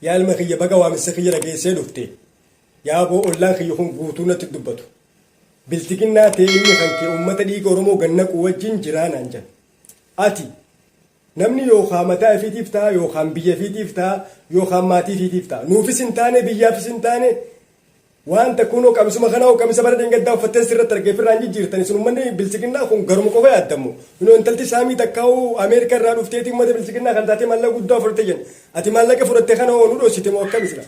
Yaa ilma kiyya baga waamicha kiyya dhageessee dhufte. Yaaboo ollaan kiyya kun guutuu natti dubbatu. Bilxiginnaa ta'ee ilmi kan kee uummata dhiiga Oromoo gad naquu wajjin jiraa naan jedhan. Ati Namni yookaan mataa ifiitiif ta'a yookaan biyya ifiitiif ta'a yookaan maatii ifiitiif ta'a. Nuufis hin taane biyyaafis hin taane Waanta kunoo qamisuma kana hoo qamisa bara dheengaddaa uffatten sirratti arge ifirraan jijjiirtani sun ummanni biltsiginnaa kun garuma qofa yaaddammo kunoo intalti saamii takkaa'u ameerika irraa dhufteeti ummata biltsiginnaa kana taatee maallaqa guddaa fudhatte jenna ati maallaqa fudhatte kana hoo nu dhossite moo akkami sila.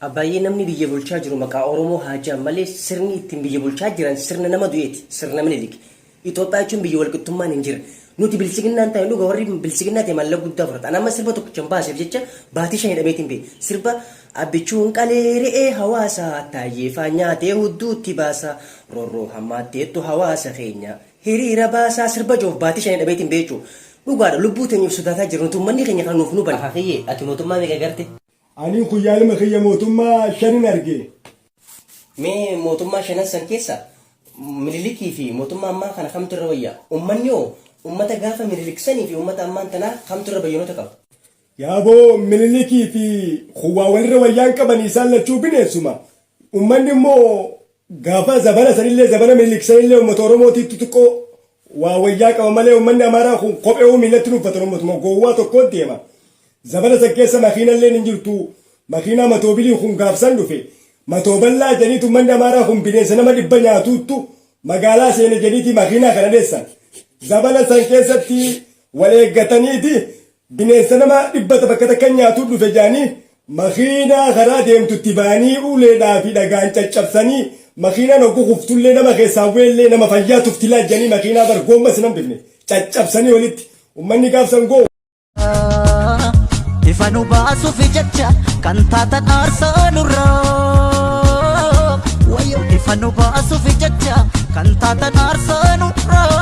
Abbaayee namni biyya bulchaa jiru maqaa oromoo haajaan malee sirni ittiin biyya bulchaa jiran sirna nama du'eeti sirna minilik Itoophiyaa jechuun biyya walqixxummaan hin jirre. Nuti bilchiginnaan taa'e dhuga warri bilchiginnaa ta'e mallaqa guddaa fudhata. Ani amma sirba tokkicha hin baaseef jecha baatii shan hidhameetiin bee. Sirba abbichuun qalee re'ee hawaasa taayyeefaa nyaatee hudduutti baasa rorroo hammaatteettu hawaasa keenya hiriira baasaa sirba joof baatii shan hidhameetiin bee jechuudha. Dhugaadha lubbuu teenyuuf sodaataa jira nuti uummanni keenya kana nuuf nu bane. Aha kiyyee ati mootummaa meeqa garte? Anii kuyyaalima kiyya mootummaa shanin arge. Mee mootummaa shanan san keessa Minilikii fi mootummaa ammaa kana kamtu irra wayya? Ummanni hoo ummata gaafa Minilik sanii fi ummata ammaan tanaa kamtu irra bayyanoota qaba? Yaaboo Minilikii fi kun waa walirra wayyaa hin qabani isaan lachuu bineensuma. Ummanni immoo gaafa zabana sanillee zabana Minilik sanillee ummata Oromootiitti xiqqoo Waa wayyaa qaba malee ummanni Amaaraa kun kopheeuu miilatti hin uffatan ummatuma gowwaa tokkoon deema. Zabana san keessa makiinalleen hin jirtu. Makiinaa matoobiliin kun gaaf san dhufe. Matooballaa jedhaniitu ummanni Amaaraa kun bineensa nama dhibba nyaatuuttu magaalaa seene jedhaniiti makiinaa kana dheessan. Zabana san keessatti wal eeggataniiti Bineensa nama dhibbata bakka takka nyaatuu dhufe jedhanii makiinaa karaa deemtutti ba'anii uleedhaa fi dhagaan caccabsanii makiinaan oggu kuftullee nama keessaa bu'ellee nama fayyaa tuftilaa jedhanii makiinaa bar goommas hin hambifne caccabsanii walitti ummanni gaafsan goo. Ifa nu baasuuf jecha kan taatan aarsaa nurraa. Wayyoo ifa nu baasuuf jecha kan taatan aarsaa nurraa.